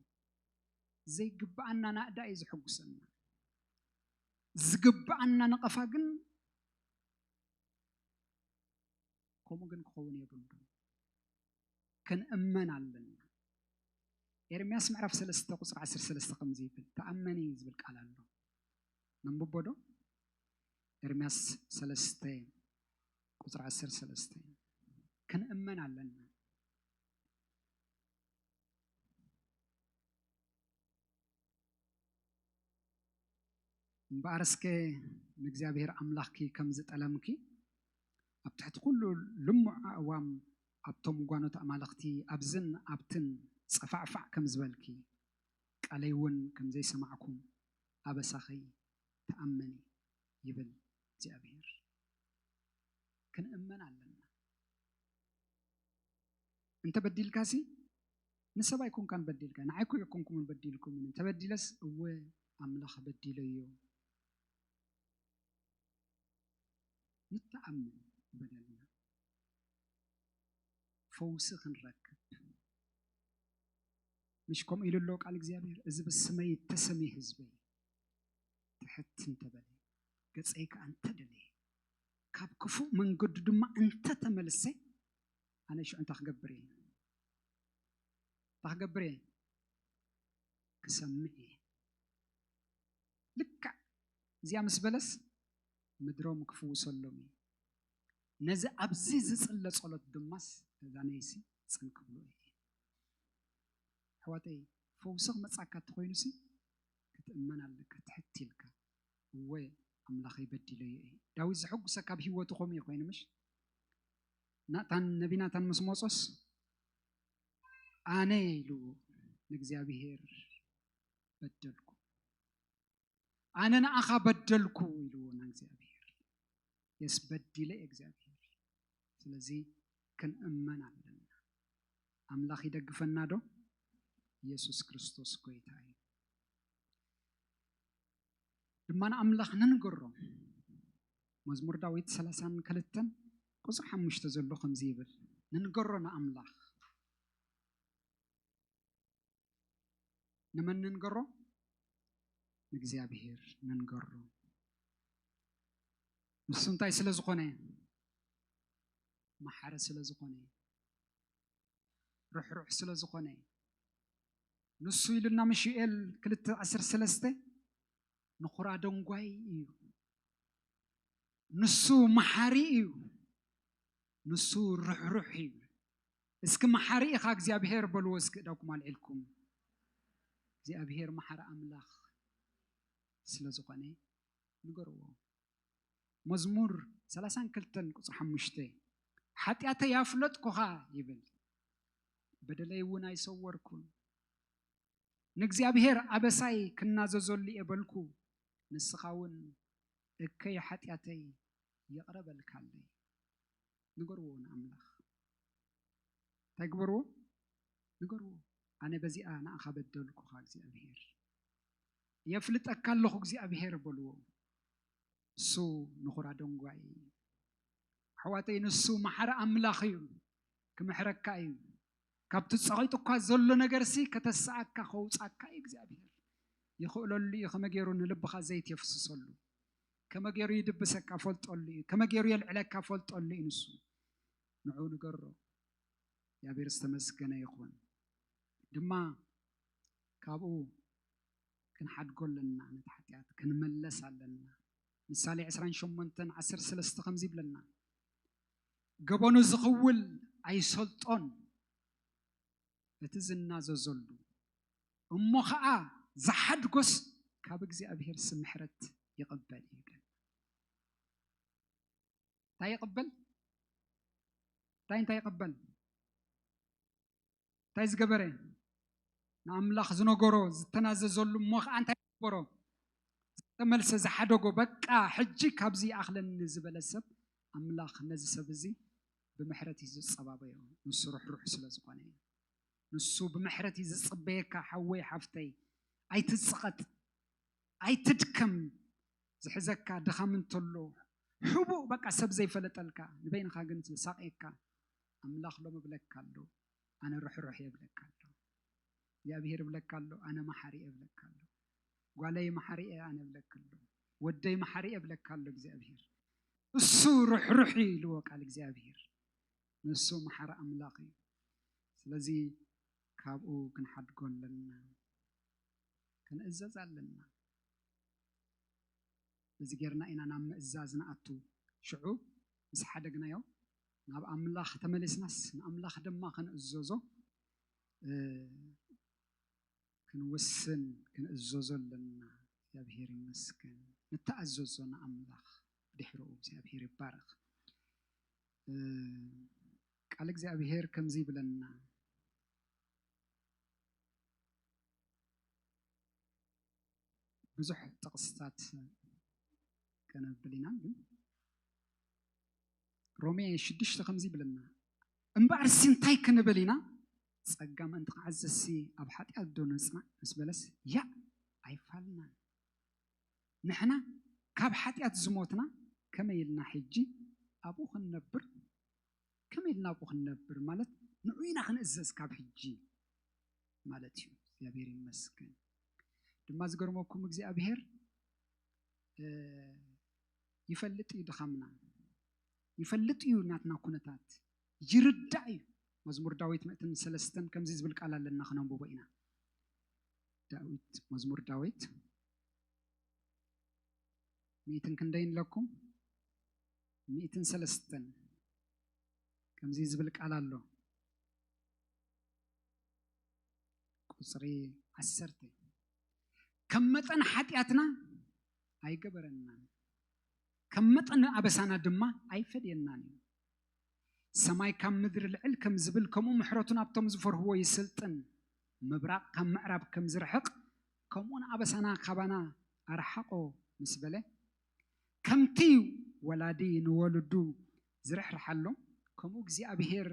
ዘይግብኣና ናእዳ እዩ ዝሕጉሰና ዝግብኣና ነቐፋ ግን ከምኡ ግን ክኸውን የብሉን ክንእመን ኣለና ኤርምያስ ምዕራፍ 3 ቁፅሪ 13 ከምዚ ይብል ተኣመኒ ዝብል ቃል ኣሎ ነንብቦ ዶ ኤርምያስ 3 ቁፅሪ 13 ክንእመን ኣለና እምበኣርስከ ንእግዚኣብሔር ኣምላኽኪ ከም ዝጠለምኪ ኣብ ትሕቲ ኩሉ ልሙዕ ኣእዋም ኣብቶም ጓኖት ኣማልኽቲ ኣብዝን ኣብትን ጸፋዕፋዕ ከም ዝበልኪ ቃለይ እውን ከም ዘይሰማዕኩም ኣበሳኺ ተኣመኒ ይብል እግዚኣብሔር። ክንእመን ኣለና። እንተ በዲልካሲ ንሰብ ኣይኮንካን በዲልካ ንዓይ እኮ ኣይኮንኩምን በዲልኩምን እንተበዲለስ እወ ኣምላኽ በዲለዮ ንተኣምን በደልና ፈውሲ ክንረክብ ምሽ ከምኡ ኢሉ ኣሎ ቃል እግዚኣብሔር እዚ ብስመይ እተሰሚ ህዝበይ ትሕት እንተበለ ገፀይ ከዓ እንተደለየ ካብ ክፉእ መንገዱ ድማ እንተተመልሰ ኣነ ሽዑ እንታይ ክገብር እየ? እንታይ ክገብር እየ? ክሰምዕ እየ። ልክዕ እዚኣ ምስ በለስ ምድሮም ክፍውሰሎም እዩ። ነዚ ኣብዚ ዝጽለ ጸሎት ድማስ ተዛነይሲ ጽን ክብሎ እየ። ኣሕዋተይ ፈውሲ ክመጻካ እንተኾይኑሲ ክትእመን ኣለካ ትሕት ኢልካ እወ ኣምላኸይ በዲለዮ እየ ዳዊት ዘሐጉሰካ ኣብ ሂወቱ ከምኡ እዩ ኮይኑ ምሽ ናታን ነቢ ናታን ምስ መጾስ ኣነ ኢሉ ንእግዚኣብሄር በደልኩ ኣነ ንኣኻ በደልኩ ኢልዎ ንእግዚኣብሄር የስ በዲለ እግዚኣብሄር ስለዚ ክንእመን ኣለና ኣምላኽ ይደግፈና ዶ ኢየሱስ ክርስቶስ ጎይታ እዩ ድማ ንኣምላኽ ንንገሮ። መዝሙር ዳዊት ሰላሳን ክልተን ቁጽሪ ሓሙሽተ ዘሎ ከምዚ ይብል ንንገሮ ንኣምላኽ ንመን ንንገሮ? ንእግዚኣብሔር ንንገሮ። ንሱ እንታይ ስለ ዝኾነ? መሓሪ ስለ ዝኾነ። ርሕሩሕ ስለ ዝኾነ እዩ። ንሱ ኢሉና ምሹኤል ክልተ ዓሰርተ ሰለስተ ንኹራ ደንጓይ እዩ። ንሱ መሓሪ እዩ። ንሱ ርሕሩሕ እዩ። እስኪ መሓሪ ኢኻ እግዚኣብሄር በልዎ እስኪ እዳኩም ኣልዒልኩም እግዚኣብሄር መሓሪ ኣምላኽ ስለ ዝኾነ ንገርዎ። መዝሙር ሰላሳን ክልተን ቁፅሪ ሓሙሽተ ሓጢኣተይ ኣፍለጥኩኻ ይብል በደለይ እውን ኣይሰወርኩን ንእግዚኣብሔር ኣበሳይ ክናዘዘሉ እየ በልኩ ንስኻ እውን እከይ ሓጢኣተይ ይቕረ በልካለይ ንገርዎ ንኣምላኽ እንታይ ግበርዎ ንገርዎ ኣነ በዚኣ ንኣኻ በደልኩኻ እግዚኣብሔር የፍልጠካ ኣለኹ እግዚኣብሄር በልዎ። ንሱ ንኹራ ደንጓይ እዩ። ኣሕዋተይ ንሱ መሓሪ ኣምላኽ እዩ፣ ክምሕረካ እዩ። ካብቲ ጸቂጡ እኳ ዘሎ ነገርሲ ከተሰኣካ ከውጻካ እዩ እግዚኣብሄር። ይኽእለሉ እዩ ከመይ ገይሩ ንልብኻ ዘይት የፍስሰሉ ከመይ ገይሩ ይድብሰካ ፈልጠሉ እዩ ከመይ ገይሩ የልዕለካ ፈልጠሉ እዩ ንሱ ንዑ ንገሮ እግዚኣብሔር ዝተመስገነ ይኹን ድማ ካብኡ ክንሓድጎ ኣለና ነቲ ሓጢኣት ክንመለስ ኣለና ምሳሌ ዕስራን ሸሞንተን ዓሰርተ ሰለስተ ከምዚ ይብለና ገበኑ ዝኽውል ኣይሰልጦን እቲ ዝናዘዘሉ እሞ ኸዓ ዝሓድጎስ ካብ እግዚኣብሔር ስምሕረት ይቕበል እዩ ይብለና እንታይ ይቕበል እንታይ እንታይ ይቕበል እንታይ ዝገበረ ንኣምላኽ ዝነገሮ ዝተናዘዘሉ እሞ ከዓ እንታይ ዝገበሮ ዝተመልሰ ዝሓደጎ በቃ ሕጂ ካብዚ ኣኽለኒ ዝበለ ሰብ ኣምላኽ ነዚ ሰብ እዚ ብምሕረት እዩ ዝፀባበዮ ንሱ ርሕሩሕ ስለ ዝኾነ እዩ ንሱ ብምሕረት እዩ ዝፅበየካ ሓወይ ሓፍተይ ኣይትፅቐጥ ኣይትድከም ዝሕዘካ ድኻም እንተሎ ሕቡእ በቃ ሰብ ዘይፈለጠልካ ንበይንኻ ግን ዝሳቕየካ ኣምላኽ ሎም እብለካ ኣሎ ኣነ ርሕሩሕ እየ እብለካ ኣሎ እግዚኣብሄር እብለካ ኣሎ ኣነ መሓሪ እየ እብለካ ኣሎ ጓለይ መሓሪ እየ ኣነ እብለክ ኣሎ ወደይ መሓሪ እየ እብለካ ኣሎ እግዚኣብሄር እሱ ርሕሩሕ እዩ ኢልዎ ቃል እግዚኣብሄር ንሱ መሓሪ ኣምላኽ እዩ ስለዚ ካብኡ ክንሓድጎ ኣለና ክንእዘዝ ኣለና እዚ ጌርና ኢና ናብ ምእዛዝ ንኣቱ ሽዑ ምስ ሓደግናዮ ናብ ኣምላኽ ተመሊስናስ ንኣምላኽ ድማ ክንእዘዞ ክንውስን ክንእዘዞ ኣለና። እግዚኣብሔር ይመስገን ንተኣዘዞ ንኣምላኽ ድሕርኡ እግዚኣብሔር ይባረኽ። ቃል እግዚኣብሔር ከምዚ ይብለና ብዙሕ ጥቕስታት ከነብል ኢና ግን ሮሜ ሽዱሽተ ከምዚ ይብለና እምበኣርሲ እንታይ ክንብል ኢና ጸጋ ምእንቲ ክዓዘሲ ኣብ ሓጢኣት ዶ ንጽናዕ ምስ በለስ ያ ኣይፋልናን ንሕና ካብ ሓጢኣት ዝሞትና ከመይ ኢልና ሕጂ ኣብኡ ክንነብር ከመይ ኢልና ኣብኡ ክንነብር ማለት ንዑ ኢና ክንእዘዝ ካብ ሕጂ ማለት እዩ እግዚኣብሔር ይመስገን ድማ ዝገርመኩም እግዚኣብሔር ይፈልጥ እዩ ድኻምና ይፈልጥ እዩ ናትና ኩነታት ይርዳእ እዩ መዝሙር ዳዊት ምእትን ሰለስተን ከምዚ ዝብል ቃል ኣለና ክነንብቦ ኢና ዳዊት መዝሙር ዳዊት ምእትን ክንደይ ንለኩም ሚእትን ሰለስተን ከምዚ ዝብል ቃል ኣሎ ቁፅሪ ዓሰርተ ከም መጠን ሓጢኣትና ኣይገበረናን ከም መጠን ኣበሳና ድማ ኣይፈድየናን እዩ ሰማይ ካብ ምድሪ ልዕል ከም ዝብል ከምኡ ምሕረቱ ናብቶም ዝፈርህዎ ይስልጥን ምብራቕ ካብ ምዕራብ ከም ዝርሕቕ ከምኡን ኣበሳና ካባና ኣርሓቆ ምስ በለ ከምቲ ወላዲ ንወለዱ ዝርሕርሓሎም፣ ከምኡ እግዚኣብሄር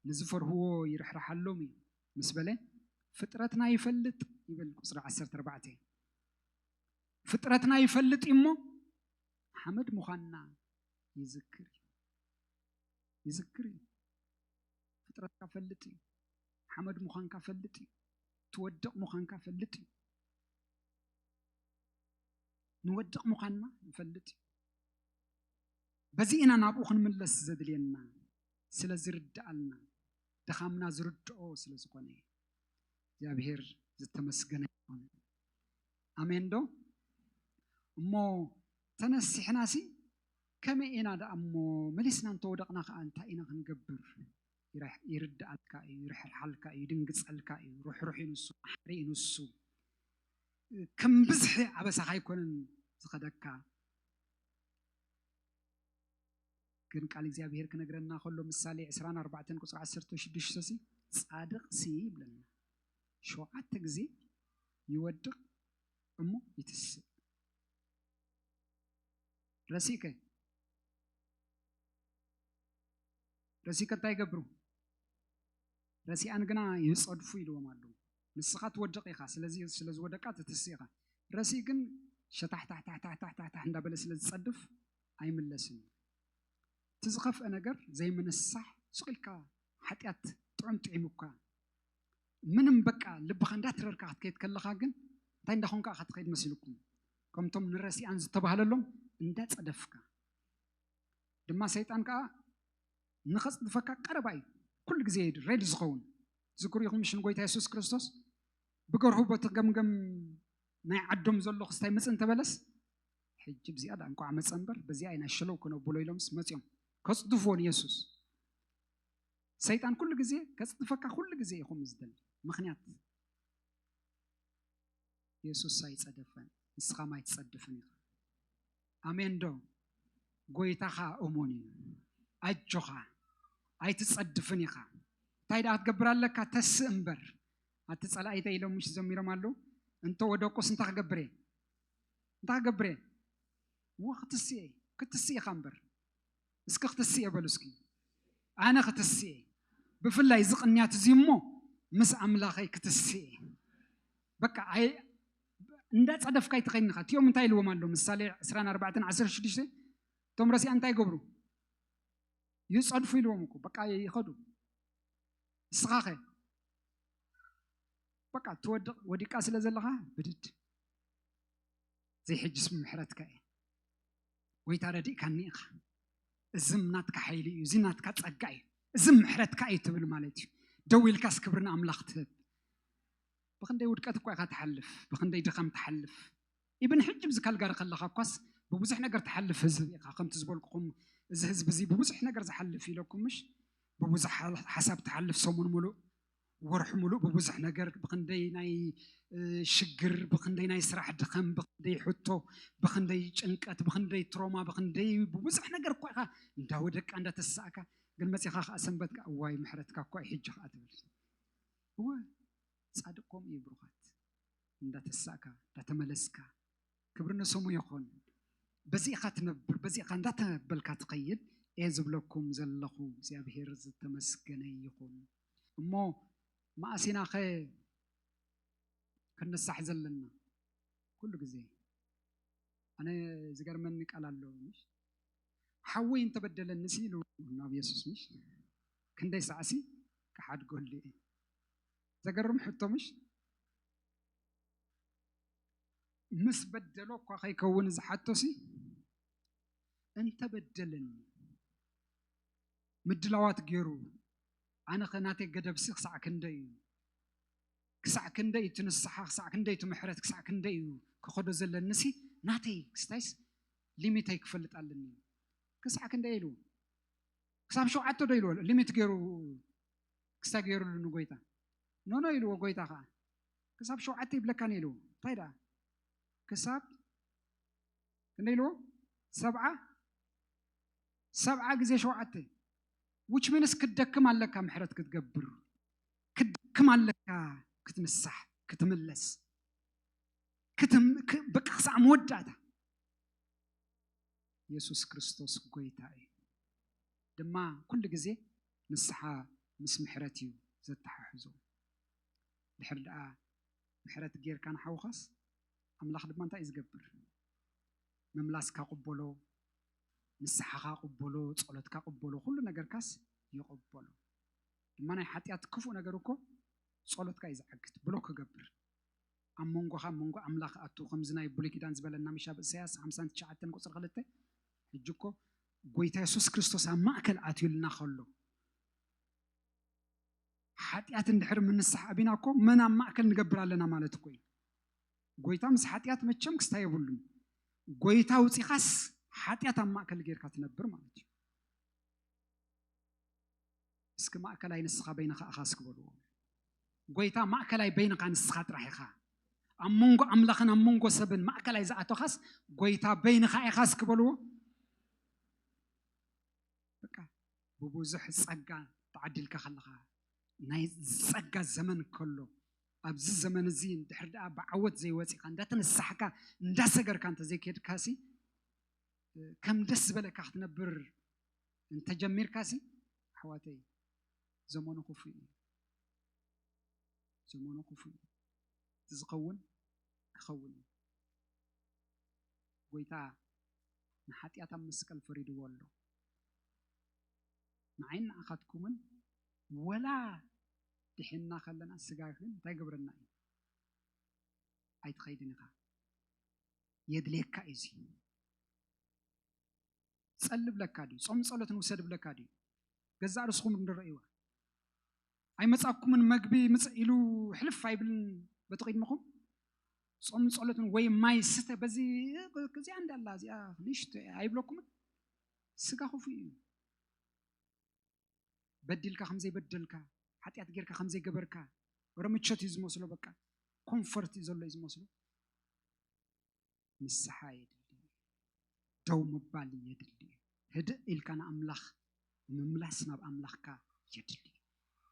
ንዝፈርህዎ ይርሕርሓሎም እዩ ምስ በለ፣ ፍጥረትና ይፈልጥ ይብል ቁጽሪ ዓሰርተ ኣርባዕተ። ፍጥረትና ይፈልጥ እዩ እሞ ሓመድ ምዃንና ይዝክር እዩ። ይዝክር እዩ። ፍጥረትካ ፈልጥ እዩ። ሓመድ ምዃንካ ፈልጥ እዩ። ትወድቕ ምዃንካ ፈልጥ እዩ። ንወድቕ ምዃንና ይፈልጥ እዩ። በዚ ኢና ናብኡ ክንምለስ ዘድልየና ስለ ዝርድኣልና ድኻምና ዝርድኦ ስለ ዝኾነ እግዚኣብሔር ዝተመስገነ ይኹን። ኣሜን ዶ እሞ ተነሲሕና ሲ ከመይ ኢና ደኣ እሞ መሊስና እንተወደቕና ከዓ እንታይ ኢና ክንገብር ይረሕ- ይርድኣልካ እዩ ይርሕርሓልካ እዩ ይድንግፀልካ እዩ ርሕሩሕ እዩ ንሱ መሓሪ እዩ ንሱ ከም ብዝሒ ኣበሳኻ ኣይኮነን ዝኸደካ ግን ቃል እግዚኣብሄር ክነግረና ከሎ ምሳሌ 24 ኣርባዕተን ቁፅሪ ዓሰርተ ሽዱሽተ ሲ ጻድቕ ሲ ይብለና ሸውዓተ ግዜ ይወድቕ እሞ ይትስእ ረሲከ ረሲከ እንታይ ይገብሩ ረሲኣን ግና ይጸድፉ ኢልዎም ኣለዉ ንስኻ ትወድቕ ኢኻ ስለዚ ስለ ዝወደቃ ትትስእ ኢኻ ረሲእ ግን ሸታሕታሕታሕታሕታሕታሕ እንዳበለ ስለ ዝጸድፍ ኣይምለስን እዩ እቲ ዝኸፍአ ነገር ዘይምንስሳሕ ሱቕ ኢልካ ሓጢኣት ጥዑም ጥዒሙካ ምንም በቃ ልብኻ እንዳትረርካ ክትከይድ ከለኻ ግን እንታይ እንዳኾንካ ኢኻ ትኸይድ መሲልኩም ከምቶም ንረሲኣን ዝተባህለሎም እንዳጸደፍካ ድማ ሰይጣን ከዓ ንኸጽድፈካ ቀረባ እዩ ኩሉ ግዜ እዩ ሬድ ዝኸውን ዝክሩ ይኹም ሽን ጎይታ የሱስ ክርስቶስ ብገርሁ ቦቲ ገምገም ናይ ዓዶም ዘሎ ክስታይ መፅ እንተበለስ ሕጂ ብዚኣ ዳ እንኳዕ መፀ እምበር በዚኣ ኢና ሽለው ክነብሎ ኢሎምስ መፅኦም ከፅድፍዎ ንየሱስ ሰይጣን ኩሉ ግዜ ከፅድፈካ ኩሉ ግዜ ኢኹም ዝደሊ ምክንያት የሱስ ኣይጸደፈን ንስኻም ኣይትጸድፍን ኢኻ ኣሜን ዶ ጎይታኻ እሙን እዩ ኣጆኻ ኣይትጸድፍን ኢኻ እንታይ ደኣ ክትገብር ኣለካ ተስእ እምበር ኣቲ ጸላኢተ ኢሎም ምሽ ዘሚሮም ኣሉ እንተ ወደቁስ እንታይ ክገብር እየ እንታይ ክገብር እየ ወክትስእ ክትስእ ኢኻ እምበር እስኪ ክትስኤ በሉ እስኪ ኣነ ክትስኤ ብፍላይ እዚ ቅንያት እዚ እሞ ምስ ኣምላኸይ ክትስኤ በቃ እንዳፀደፍካ ይትኸይንኻ እቲኦም እንታይ ኢልዎም ኣሎ ምሳሌ 24 16 እቶም ረሲያ እንታይ ገብሩ ይፀድፉ ኢልዎም እኮ በቃ ይኸዱ ንስኻ ኸ በቃ ትወድቕ ወዲቃ ስለ ዘለኻ ብድድ ዘይሕጅስ ምሕረትካ እየ ጎይታ ረዲእካኒ ኢኻ እዝም ናትካ ሓይሊ እዩ እዚ ናትካ ፀጋ እዩ እዝም ምሕረትካ እዩ ትብል ማለት እዩ ደው ኢልካስ ክብሪ ንኣምላኽ ትህብ ብክንደይ ውድቀት እኳ ኢኻ ትሓልፍ ብክንደይ ድኻም ትሓልፍ ኢብን ሕጂ ብዚ ካልጋሪ ከለካ እኳስ ብብዙሕ ነገር ትሓልፍ ህዝቢ ኢኻ ከምቲ ዝበልኩኹም እዚ ህዝቢ እዚ ብብዙሕ ነገር ዝሓልፍ ኢለኩምሽ ብብዙሕ ሓሳብ ትሓልፍ ሰሙን ሙሉእ ወርሒ ሙሉእ ብብዙሕ ነገር ብክንደይ ናይ ሽግር ብክንደይ ናይ ስራሕ ድኸም ብክንደይ ሕቶ ብክንደይ ጭንቀት ብክንደይ ትሮማ ብክንደይ ብብዙሕ ነገር እኳ ኢኻ እንዳወደቅካ እንዳተሳእካ ግን መፂኻ ከዓ ሰንበት ከዓ እዋይ ምሕረትካ እኳ እዩ ሕጂ ከዓ ትብል እወ ፃድቅ ከምኡ እዩ ብሩኻት እንዳተሳእካ እንዳተመለስካ ክብሪ ንስሙ ይኹን በዚ ኢኻ ትነብር በዚ ኢኻ እንዳተበልካ ትኸይድ እየ ዝብለኩም ዘለኹ እግዚኣብሄር ዝተመስገነ ይኹን እሞ መኣስ ኢናኸ ክንሳሕ ዘለና ኩሉ ግዜ ኣነ ዝገርመኒ ቃል ኣሎ ምሽ ሓወይ እንተበደለኒ ሲ ኢሉ ናብ የሱስ ምሽ ክንደይ ሳዕሲ ክሓድገሉ እየ ዘገርም ሕቶ ምሽ ምስ በደሎ እኳ ከይከውን ዝሓቶ ሲ እንተበደለኒ ምድላዋት ጌሩ ኣነኸ ናተይ ገደብሲ ክሳዕ ክንደይ እዩ ክሳዕ ክንደይ እቲ ንስሓ ክሳዕ ክንደይ እቲ ምሕረት ክሳዕ ክንደይ እዩ ክኸዶ ዘለኒሲ ናተይ ክስታይስ ሊሚተይ ክፈልጥ ኣለኒ ክሳዕ ክንደይ ኢሉ ክሳብ ሸውዓተ ዶ ኢልዎ ሊሚት ገይሩ ክስታይ ገይሩሉ ንጎይታ ኖኖ ኢልዎ ጎይታ ከዓ ክሳብ ሸውዓተ ይብለካኒ ኢልዎ እንታይ ደኣ ክሳብ ክንደይ ኢልዎ ሰብዓ ሰብዓ ግዜ ሸውዓተ which means ክትደክም ኣለካ ምሕረት ክትገብር ክትደክም ኣለካ ክትንሳሕ ክትምለስ በቃ ክሳዕ መወዳእታ የሱስ ክርስቶስ ጎይታ እዩ ድማ ኩሉ ግዜ ንስሓ ምስ ምሕረት እዩ ዘተሓሕዞ ድሕር ደኣ ምሕረት ጌርካ ንሓውኻስ ኣምላኽ ድማ እንታይ እዩ ዝገብር ምምላስካ ቅበሎ ንስሓኻ ቅበሎ ጸሎትካ ቅበሎ ኩሉ ነገርካስ ይቕበሎ ድማ ናይ ሓጢኣት ክፉእ ነገር እኮ ጸሎትካ እዩ ዝዓግት ብሎክ ክገብር ኣብ መንጎኻ መንጎ ኣምላኽ ኣቱ ከምዚ ናይ ብሉይ ኪዳን ዝበለና ምሽ ኣብ እሳያስ 59 ቁፅሪ ክልተ ሕጂ እኮ ጎይታ የሱስ ክርስቶስ ኣብ ማእከል ኣትዩልና ከሎ ሓጢኣት እንድሕር ምንስሓ ኣቢና እኮ መን ኣብ ማእከል ንገብር ኣለና ማለት እኮ እዩ ጎይታ ምስ ሓጢኣት መቸም ክስታይ የብሉን ጎይታ ውፂኻስ ሓጢኣት ኣብ ማእከል ጌርካ ትነብር ማለት እዩ እስኪ ማእከላይ ንስኻ በይንኻ እኻ እስኪ በልዎ ጎይታ ማእከላይ በይንኻ ንስኻ ጥራሕ ኢኻ ኣብ መንጎ ኣምላኽን ኣብ መንጎ ሰብን ማእከላይ ዝኣቶኻስ ጎይታ በይንኻ ኢኻ እስኪ በልዎ በቃ ብብዙሕ ፀጋ ተዓዲልካ ከለኻ ናይ ፀጋ ዘመን ከሎ ኣብዚ ዘመን እዚ ድሕሪ ደኣ ብዓወት ዘይወፂእካ እንዳተነሳሕካ እንዳሰገርካ እንተዘይከድካ ሲ ከም ደስ ዝበለካ ክትነብር እንተጀሚርካ ሲ ኣሕዋተይ ዘመኑ ክፉእ እዩ ዘመኑ ክፉእ እዩ እቲ ዝኸውን ክኸውን እዩ ጎይታ ንሓጢኣት ኣብ መስቀል ፈሪድዎ ኣሎ ንዓይን ንዓኻትኩምን ወላ ድሒንና ከለና ስጋ ግን እንታይ ግብረና እዩ ኣይትኸይድን ኢኻ የድልየካ እዩ እዚ ፀሊ ብለካ ድዩ ፆም ፀሎት ንውሰድ ብለካ ድዩ ገዛእ ርስኹም ንረእይዋ ኣይመፃኩምን መግቢ ምፅ ኢሉ ሕልፍ ኣይብልን በቲ ቅድምኹም ፆም ፀሎትን ወይ ማይ ስተ በዚ እዚኣ እንዳላ እዚኣ ንሽቶ እያ ኣይብለኩምን ስጋ ክፉእ እዩ በዲልካ ከም ዘይበደልካ ሓጢኣት ጌርካ ከም ዘይገበርካ ወረ ምቾት እዩ ዝመስሎ በቃ ኮንፈርት እዩ ዘሎ እዩ ዝመስሎ ንስሓ የድሊ ደው ምባል የድሊ እዩ ህድእ ኢልካ ንኣምላኽ ምምላስ ናብ ኣምላኽካ የድሊ እዩ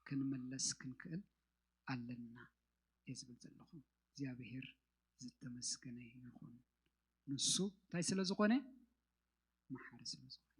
ክንመለስ ክንክእል ኣለና እየ ዝብል ዘለኹ እግዚኣብሄር ዝተመስገነ ይኹን ንሱ እንታይ ስለ ዝኾነ መሓሪ ስለ ዝኾነ